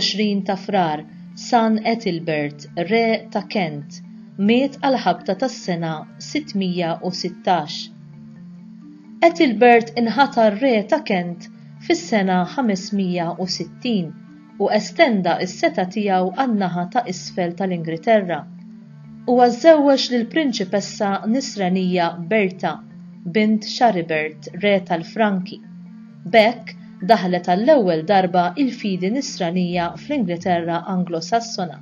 24 ta' frar San Ethelbert, re ta' Kent, miet għal ħabta tas-sena 616. Ethelbert inħatar re ta' Kent fis-sena 560 u estenda s-setgħa tiegħu għan-naħa ta' isfel tal-Ingriterra. Huwa żżewweġ lill-Prinċipessa Nisranija Berta, bint Charibert, re tal-Franki. B'hekk, daħlet għall-ewwel darba il-fidi Nisranija fl-Ingriterra Anglo-Sassona,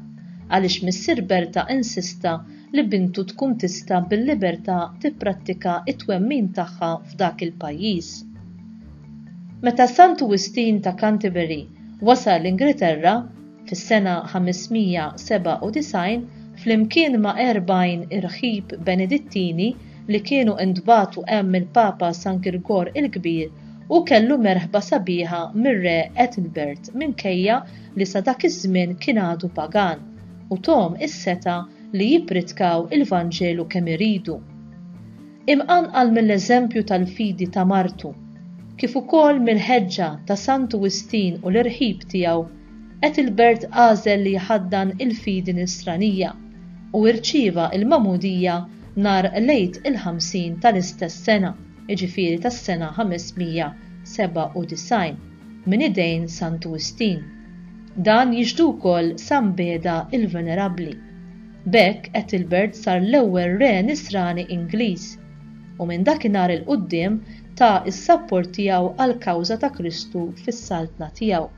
għaliex missier Berta insista li bintu tkun tista' bil-libertà tipprattika t-twemmin tagħha f'dak il-pajjiż. Meta Santu Wistin ta' Canterbury wasal l-Ingilterra fis-sena 597 flimkien ma' erbgħin irħib Benedittini li kienu ntbagħtu hemm mill-Papa San Girgor il-Kbir, hu kellu merħba sabiħa mir-Re Ethelbert minkejja li sa dak iż-żmien kien għadu pagan, u thom is-setgħa li jippritkaw il-Vanġelu kemm iridu. Imqanqal mill-eżempju tal-fidi ta' martu, kif ukoll mill-ħeġġa ta' Santu Wistin u l-irħib tiegħu, qed il-Bert għażel li jħaddan il-fidi Nisranija u irċieva l-Magħmudija nhar l-Għid il-Ħamsin tal-istess sena, jiġifieri tas-sena 597, minn idejn Santu Wistin. Dan jixhdu wkoll San Beda il-Venerabbli. B'hekk Ethelbert sar l-ewwel re nisrani Ingliż, u minn dakinhar 'il quddiem ta s-sapport tiegħu għall-kawża ta' Kristu fis-saltna tiegħu.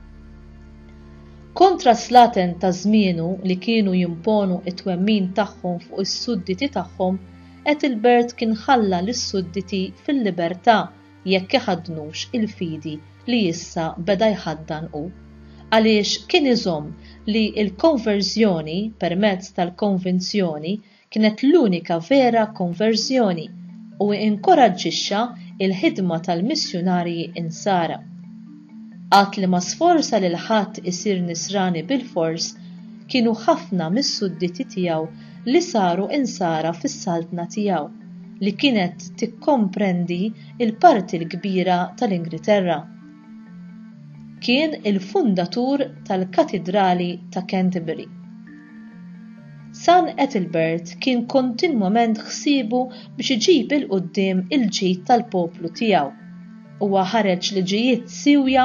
Kontra s-slaten ta' żmienu li kienu jimponu t-twemmin tagħhom fuq is-sudditi tagħhom, Ethelbert kien ħalla lis-sudditi fil-libertà jekk iħaddnux il-fidi li issa beda jħaddan hu, għaliex kien iżomm li l-konverżjoni permezz tal-konvinzjoni kienet l-unika vera konverżjoni u inkoraġġixxa l-ħidma tal-missjunarji Nsara. Għadd li ma sforza lil ħadd isir nisrani bilfors kienu ħafna mis-sudditi tiegħu li saru insara fis-saltna tiegħu, li kienet tikkomprendi l-parti l-kbira tal-Ingriterra. Kien il-fundatur tal-Katidrali ta' Canterbury. San Ethelbert kien kontinwament ħsiebu biex iġib 'il quddiem il-ġid tal-poplu tiegħu. Huwa ħareġ liġijiet siewja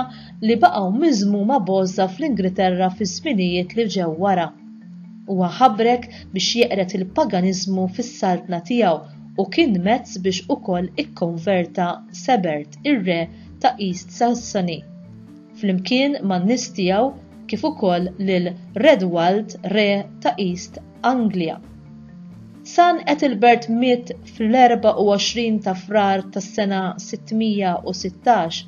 li baqgħu miżmuma b'għożża fl-Ingriterra fiż-żminijiet li ġew wara. Huwa ħabrek biex jeqred il-paganiżmu fis-saltna tiegħu u kien mezz biex ukoll ikkonverta Sebert, ir-re ta' East Sassony, flimkien man-nies tiegħu kif ukoll lil Redwald, re ta' East Anglija. San Ethelbert miet fl-24 ta' Frar tas-sena 616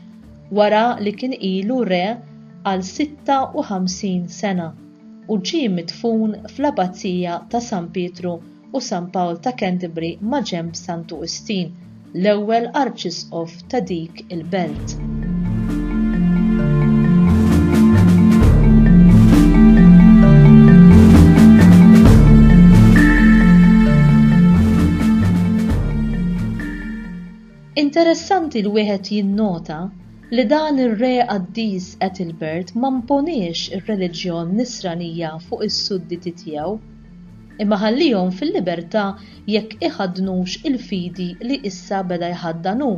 wara li kien ilu re għal 56 sena u ġie midfun fl-Abbazija ta' San Pietru u San Pawl ta' Canterbury maġenb Santu Wistin, l-ewwel Arċisqof ta' dik il-belt. Interessanti li wieħed jinnota li dan ir-re qaddis Ethelbert ma mponiex ir-reliġjon Nisranija fuq is-sudditi tiegħu. Imma ħallihom fil-libertà jekk iħaddnux il-fidi li issa beda jħaddan hu.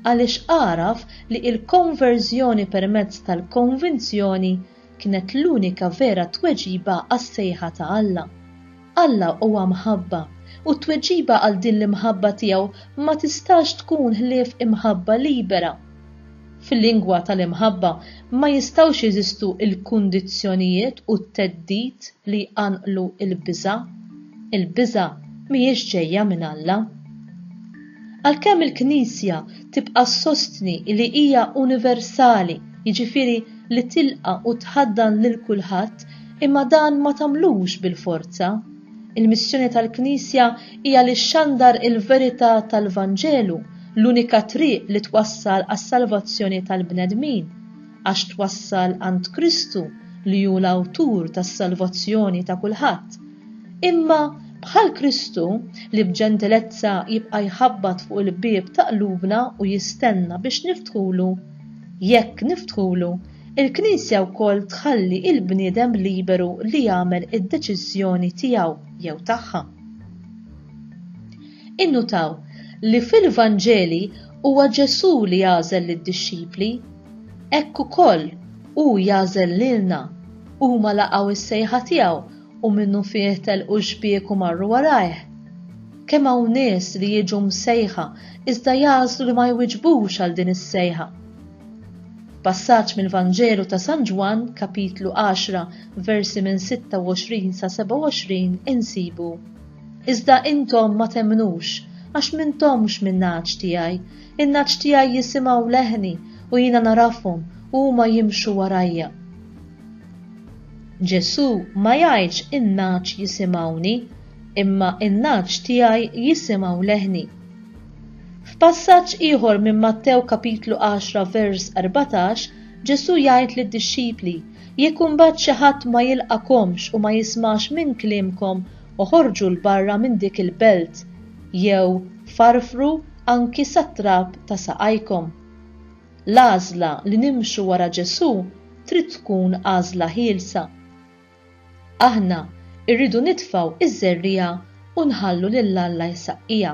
Għaliex għaraf li il-konverżjoni permezz tal-konvinzjoni kienet l-unika vera tweġiba għas-sejħa ta' Alla. Alla huwa mħabba, u t-tweġiba għal din l-imħabba tiegħu ma tistax tkun ħlief imħabba libera. fil-lingwa tal-imħabba, ma jistgħux jeżistu l-kundizzjonijiet u t-theddid li jqanqlu l-biża'. Il-biża' mhijiex ġejja minn Alla. Għalkemm il-Knisja tibqa' ssostni li hija universali, jiġifieri li tilqa' u tħaddan lil kulħadd, imma dan ma tagħmlux bil-forza. Il-missjoni tal-Knisja hija li xxandar il-verità tal-Vanġelu, l-unika triq li twassal għas-salvazzjoni tal-bnedmin, għax twassal għand Kristu li hu l-Awtur tas-salvazzjoni ta' kulħadd. Imma, bħal Kristu, li b'ġentilezza jibqa' jħabbat fuq il-bieb ta' qlubna u jistenna biex niftħulu, jekk niftħulu, Il-Knisja wkoll tħalli l-bniedem liberu li jagħmel id-deċiżjoni tiegħu jew tagħha. Innutaw li fil-Vanġeli huwa Ġesù li jagħżel lid-dixxipli, hekk ukoll hu jagħżel lilna, huma laqgħu s-sejħa tiegħu u minnufih telqu x-xbiek u marru warajh. Kemm hawn nies li jiġu msejħa iżda jagħżlu li ma jwiġbux għal din is-sejħa. Passaġġ mill-Vanġelu ta' San Ġwann, kapitlu 10, versi minn 26 sa 27 insibu, Iżda intom ma temmnux, għax m'intomx min-nagħaġ tiegħi. In-nagħaġ tiegħi jisimgħu leħni u jiena narafhom u huma jimxu warajja. Ġesù ma jgħidx in-nagħaġ jisimgħuni, imma in-nagħaġ tiegħi jisimgħu leħni. F'passaġġ ieħor minn Mattew kapitlu 10 vers 14, Ġesù jgħid lid-dixxipli, Jekk imbagħad xi ħadd ma jilqagħkomx u ma jismax minn kliemkom, oħorġu 'l barra minn dik il-belt, jew farfru anki sat-trab ta' saqajkom. L-għażla li nimxu wara Ġesù trid tkun għażla ħielsa. Aħna rridu nitfgħu ż-żerriegħa u nħallu lil Alla jsaqqija.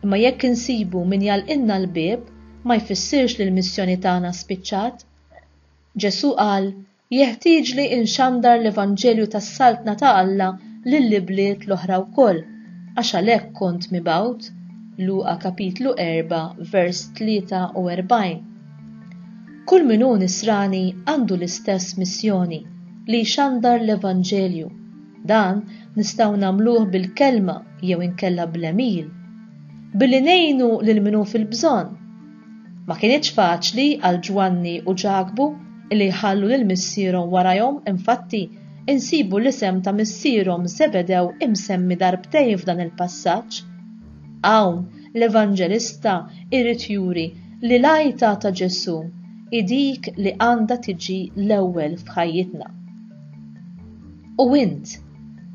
Imma jekk insibu min jagħlqilna l-bieb, ma jfissirx li l-missjoni tagħna spiċċat. Ġesù qal, Jeħtieġli nxandar l-evanġelju tas-Saltna ta' Alla lill-ibliet l-oħra wkoll, għax għalhekk kont mibgħut. Luqa kapitlu 4 vers 43. Kull min hu Nisrani għandu l-istess missjoni, li jxandar l-Evanġelju. Dan nistgħu nagħmluh bil-kelma jew inkella bl-għemil. Billi ngħinu lil min hu fil-bżonn. Ma kinitx faċli għal Ġwanni u Ġakbu li jħallu lil missierhom warajhom, infatti insibu l-isem ta' missierhom Żebedew imsemmi darbtejn f'dan il-passaġġ. Hawn, l-Evanġelista jrid juri li l-għajta ta' Ġesù hi dik li għandha tiġi l-ewwel f'ħajjitna. U int,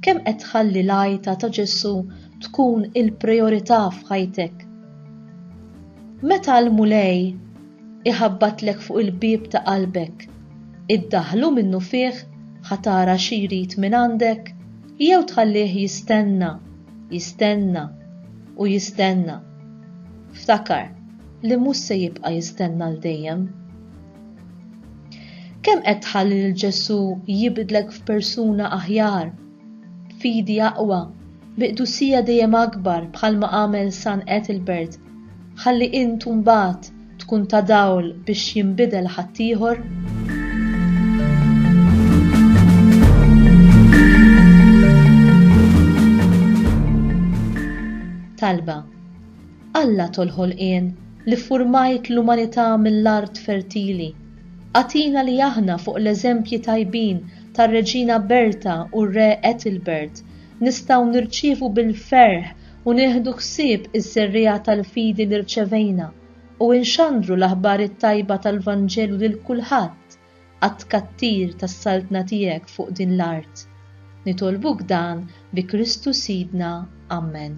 kemm qed tħalli l-għajta ta' Ġesù tkun il-prijorità f'ħajtek? Meta l-Mulej iħabbatlek fuq il-bieb ta' qalbek, iddaħħlu minnufih ħa tara xi jrid mingħandek jew tħallih jistenna Jistenna u jistenna. Ftakar li mhux se jibqa' jistenna l dejjem. Kemm qed tħalli lil Ġesù jibdlek f'persuna aħjar, fidi aqwa, bi qdusija dejjem akbar bħalma għamel San Ethelbert, ħalli int mbagħad tkun ta' dawl biex jinbidel ħaddieħor? talba. Alla tolħolqien li furmajt l-umanità mill-art fertili. Atina li aħna fuq l-eżempji tajbin tar-Reġina Berta u r-Re Ethelbert nistgħu nirċievu bil-ferħ u nieħdu ħsieb iż-żerriegħa tal-fidi li rċevejna u nxandru l-aħbar it-tajba tal-Vanġelu lil kulħadd għat-tkattir tas-Saltna tiegħek fuq din l-art. Nitolbuk dan bi Kristu Sidna. Ammen.